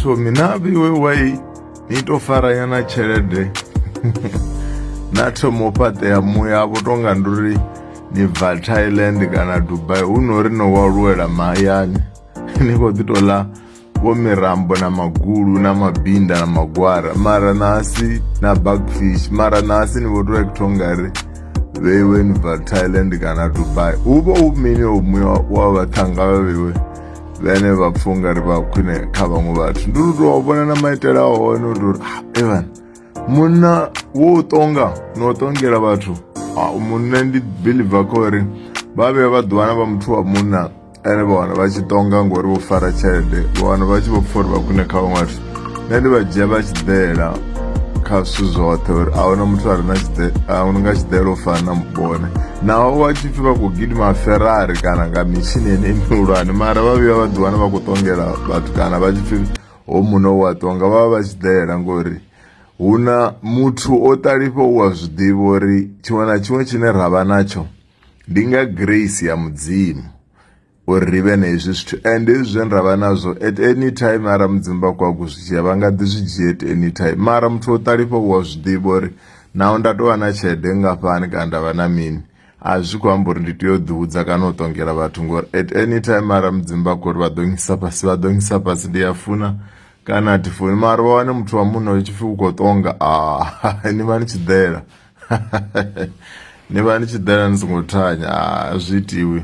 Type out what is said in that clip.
thomi na vhiwe wai ni to faranyana tshelede na thomo fhaṱea muya vho tonga nduri ni bva thailand kana dubai hu no ri no waluwela mahayani ni khou ḓi tou ḽa vho mirambo na magulu na mabinda na magwara mara nasi na backfish mara nasi ni vho tou ekutho ngari vheiwe ni bva thailand kana dubai hu vha hu mini omuya wa vhaṱhanga vha vheiwe vhene vha pfha u nga ri vha khwine kha vhaṅwe vhathu ndi uri tou vhona na maitele a hone u tori ah, evan munna wo u tonga no u tongela vhathu ah, munna ndi biliva kha uri vha vhuya vha ḓiwana vha muthu wa munna ene vha wana vha tshi tonga ngori vho fara tshelede vha wana vha tshi vho pfha uri vha khwine kha vhaṅwe vhathu nṋe ndi vha dzhia vha tshiḓela kha zwithu zwoṱhe uri a huna muthu a re na tshiḓe a huna nga tshiḓela u fana na mubone naho vha tshi pfhi vha khou gidima ferrari kana nga mitshini ene mihulwane mara vha vhuya vha ḓiwana vha khou ṱongela vhathu kana vha tshi pfhi ho muno wa ṱonga vha vha vha tshiḓela ngori hu na muthu o ṱalifha u a zwi ḓivha uri tshiṅwe na tshiṅwe tshine ra vha natsho ndi nga grace ya mudzimu. uri ri vhe na hezwi zwithu and hezwi zwe ra vha nazwo at any time ara mudzimu vha khou akho zwi dzhia vha nga ḓi zwi dzhia at any time mara muthu o ṱalifha u a zwi ḓivha uri naho nda tou vha na tshelede nngafhani kana nda vha na mini a zwi khou amba uri ndi tea u ḓihudza kana u ṱongela vhathu ngori at any time ara mudzimu vha khou ri vha ḓo ngisa fhasi vha ḓo ngisa fhasi ndi a funa kana a thi funi mara vha wane muthu wa munna u tshi pfhi u khou ṱonga a ni vha ni tshi ḓela ni vha ni tshi ḓela ni songo thanya a zwi itiwi